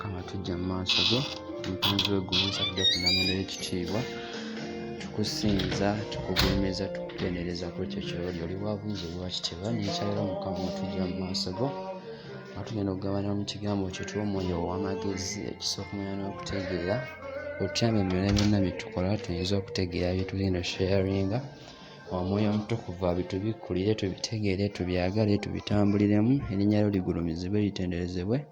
kama tujja mu maaso go omutonzi w'eggulu nsabidde ku namula ekitiibwa tukusinza tukugulumiza tukutendereza ku ekyo kyoli oli wabuyinza oli wakitiibwa nekyalero mukama otujja mu maaso go nga tugenda okugabana mu kigambo kyo tuwa omwoyo ow'amagezi ekisookumanya n'okutegeera otyama emirala byonna byetukola tuyinza okutegeera byetugenda sharinga omwoyo omutukuvu abitubikkulire tubitegeere tubyagale tubitambuliremu erinnya lyo ligulumizibwe litenderezebwe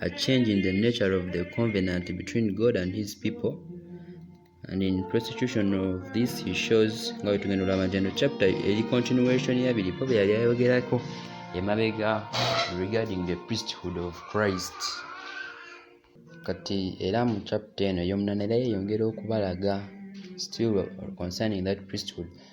a change in the nature of the covenant between God and his people. And in prostitution of this, he shows nga wetugenda olaba njeno chapter eri continuation yabiri po beyali ayogerako emabega regarding the priesthood of Christ. Kati era mu chapter eno yomunana era yeyongera okubalaga still concerning that priesthood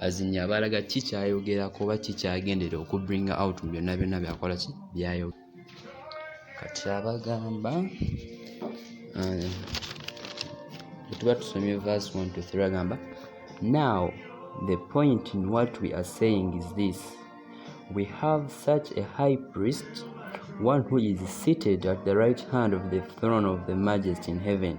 azinye abalaga ki kyayogera kuba ki kyagendera oku bring out mu byonna byonna byakola ki byayo kati abagamba eh, tuba tusomye verse 1 to 3 agamba now the point in what we are saying is this we have such a high priest one who is seated at the right hand of the throne of the majesty in heaven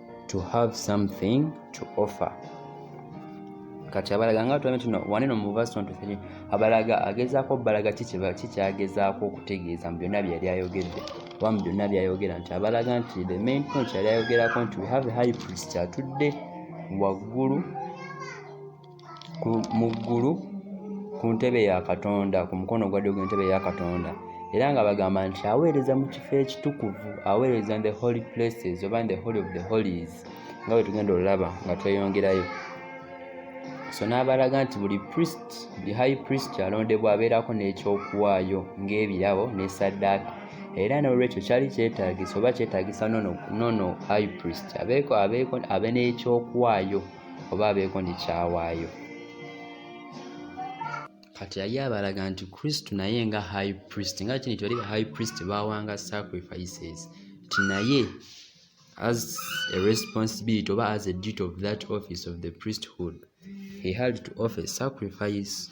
to have something to offer kati abalaga nga tuame tuno waneno mu verse 23 abalaga agezaako balaga kikyagezaako okutegeeza mu byonna byeyali ayogedde oba mu byonna byayogera nti abalaga nti the main point yali ayogerako nti we have a high priest atudde waggulu mu ggulu ku ntebe ya katonda ku mukono ogwadde gw'entebe ya katonda era nga bagamba nti aweereza mu kifo ekitukuvu aweereza the holy places oba the holy of the holies nga bwe tugenda olulaba nga tweyongerayo so n'abalaga nti buli priest buli high priest alondebwa abeerako n'ekyokuwaayo ng'ebirabo n'esaddaaka era n'olwekyo kyali kyetaagisa oba kyetaagisa nono high priest abeeko abeeko abe n'ekyokuwaayo oba abeeko ne kyawaayo kati yali abalaga nti kristo naye nga high priest nga kini tibali ba high priest bawanga sacrifices ti naye as a responsibility oba as a duty of that office of the priesthood he had to offer sacrifice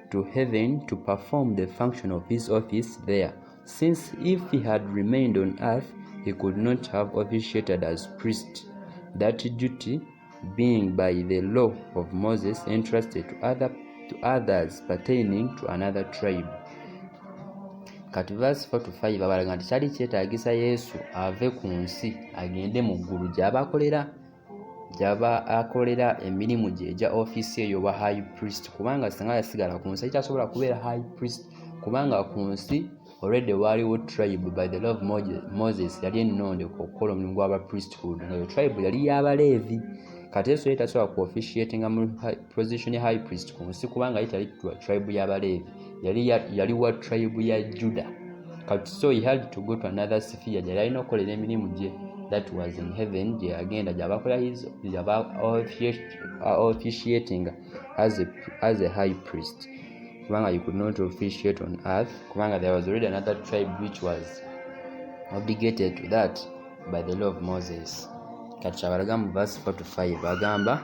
to heaven to perform the function of his office there, since if he had remained on earth, he could not have officiated as priest, that duty being by the law of Moses entrusted to, other, to others pertaining to another tribe. kati verse 4 to 5 abalaga nti kyali kyetaagisa yesu ave ku nsi agende mu ggulu gy'abakolera gyaba akolera emirimu gye egya ofiisi eyo oba high priest kubanga singa yasigala ku nsi ekyasobola kubeera high priest kubanga ku nsi already waaliwo tribe by the law of moses yali ennonde okukola omulimu gwaba priesthood nga yo tribe yali yabaleevi kati yesu yali tasobola ku officiatinga mu position ya high priest ku nsi kubanga ye tali tribe yabaleevi yali yali wa tribe ya juda kati so he had to go to another sphere gyeyali alina okukolera emirimu gye that was in heaven gye yagenda gyabakola gyaba officiating as a, as a high priest kubanga you could not officiate on earth kubanga there was already another tribe which was obligated to that by the law of moses kati kyabalaga mu verse 4 to 5 agamba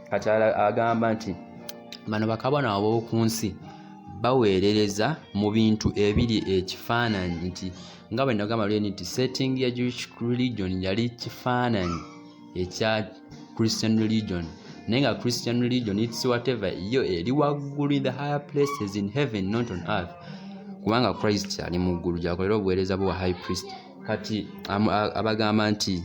kati agamba nti bano bakabona ab'oku nsi baweerereza mu bintu ebiri ekifaananyi nti nga bwe nagamba luli nti setting ya jewish religion yali kifaananyi ekya christian religion naye nga christian religion its whatever yo eri waggulu in the higher places in heaven not on earth kubanga christ ali mu ggulu gyakolera obuweereza bwa high priest kati abagamba nti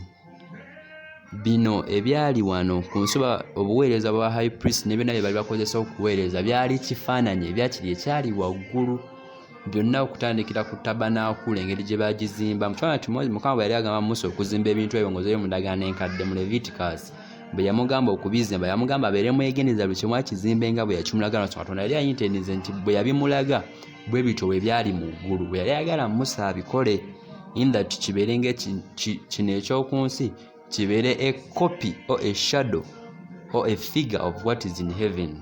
bino ebyali wano ku nsoba obuweereza bwa high priest ne byonna bye bali bakozesa okuweereza byali kifaananyi ebyakiri ekyali waggulu byonna okutandikira ku tabanaakula engeri gye bagizimba mukifaananyi kimozi mukama bwe yali agamba musa okuzimba ebintu ebyo ngozeyo mundagaano enkadde mu leviticus bwe yamugamba okubizimba yamugamba abeere mwegendereza buli kimu akizimbe nga bwe yakimulaga nso katonda yali ayinteneze nti bwe yabimulaga bwe bityo bwe byali mu ggulu bwe yali ayagala musa abikole in that kibeere nga kino ekyoku nsi kibeere a copy or a shadow or a figure of what is in heaven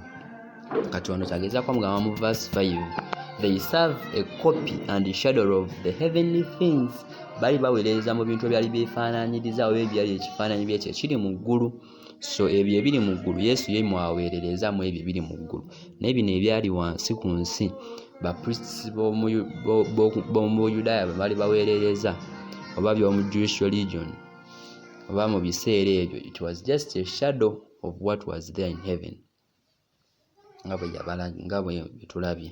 kati wano kyagezako mugamba mu verse 5 they serve a copy and a shadow of the heavenly things bali baweereza mu bintu ebyali byefaananyiriza oba ebyali ekifaananyi byekyo ekiri mu ggulu so ebyo ebiri mu ggulu yesu ye mwaweerereza mu ebyo ebiri mu ggulu naye bino ebyali wansi ku nsi bapriests b'omu buyudaaya bwe bali baweerereza oba by'omu jewish religion oba mu biseera ebyo it was just a shadow of what was there in heaven nga bwe tulabye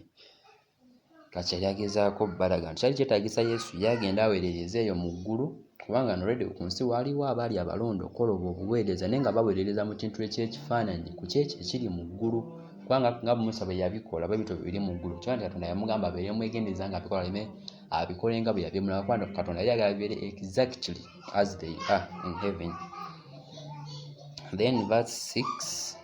kati yali agezaako balaga nti kyali kyetaagisa yesu ye agende aweerereze eyo mu ggulu kubanga nolwedde ku nsi waaliwo abaali abalonda okukola obwo obuweereza naye nga baweerereza mu kintu ekyekifaananyi ku kyekyo ekiri mu ggulu kubanga nga musa bwe yabikola bwe bityo biri mu ggulu kyoa nti katonda yamugamba abeere mwegendereza nga abikola leme abikole nga bwe yabyemulaba kubanga katonda yali agala bibeere exactly as they are in heaven then verse 6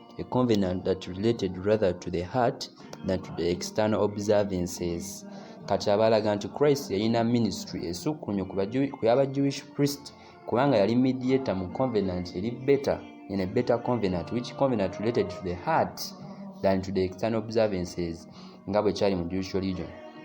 a covenant that related rather to the heart than to the external observances kati abalaga nti christ yalina ministry esukkunyo ku yaba jewish priest kubanga yali mediator mu covenant eri better in a better covenant which covenant related to the heart than to the external observances nga bwe kyali mu jewish religion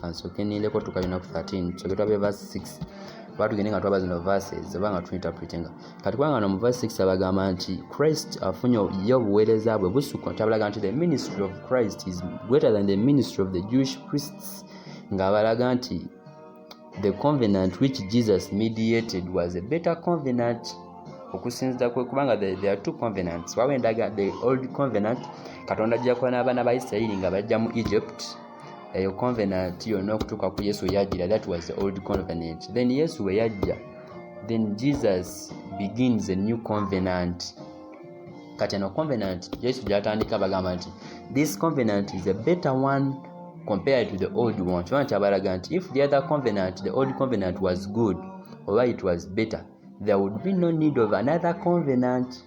kansoke nindeko tuka lunaku 13 tusoke twabe verse 6 oba tugende nga twaba zino verses oba nga tuinterpretinga kati kubanga no mu verse 6 abagamba nti christ afunye ye obuweereza bwe busukka kyabalaga nti the ministry of christ is greater than the ministry of the jewish priests ng'abalaga nti the covenant which jesus mediated was a better covenant okusinzira kwe kubanga there are two covenants wawo endaga the old covenant katonda ajja kuba n'abaana ba isirayiri nga bajja mu egypt eyo covenant yonna okutuuka ku yesu weyajjira that was the old covenant then yesu weyajja then jesus begins a new covenant kati eno covenant yesu gyatandika bagamba nti this covenant is a better one compared to the old one kiba nkyabalaga nti if the other covenant the old covenant was good oba it was better there would be no need of another covenant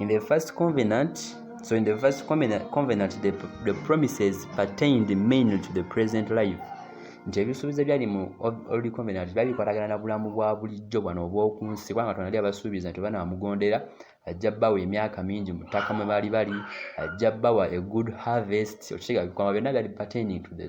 In the first covenant, so in the first covenant, covenant the, the promises pertained mainly to the present life. nti ebisuubizo ebyali mu old covenant byali bikwatagana na bulamu bwa bulijjo bwano obw'oku nsi kubanga katonda yali abasuubiza nti banaamugondera ajja bawa emyaka mingi mu ttaka mwe baali bali ajja bawa a good harvest okitegeera bikwama byonna byali pertaining to the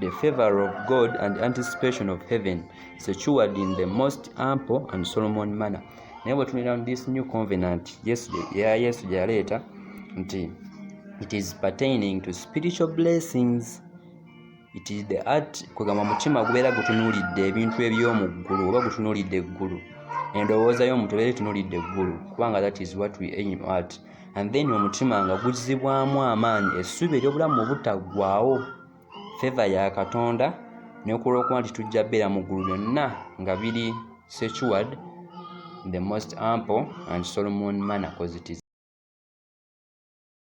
The favor of God and anticipation of heaven secured in the most ample and Solomon manner. Naye bwe tunira this new covenant Yesu ya Yesu gye yaleeta nti it is pertaining to spiritual blessings it is the art kwegamba mutima gubeera gutunuulidde ebintu eby'omu ggulu oba gutunuulidde eggulu endowooza y'omuntu ebeera etunuulidde eggulu kubanga that is what we aim at and then omutima nga guzzibwamu amaanyi essuubi ery'obulamu obutaggwawo feva ya katonda nekulwokuba nti tujja beera mu ggulu byonna nga biri secured the most ample and solomon manner cause it is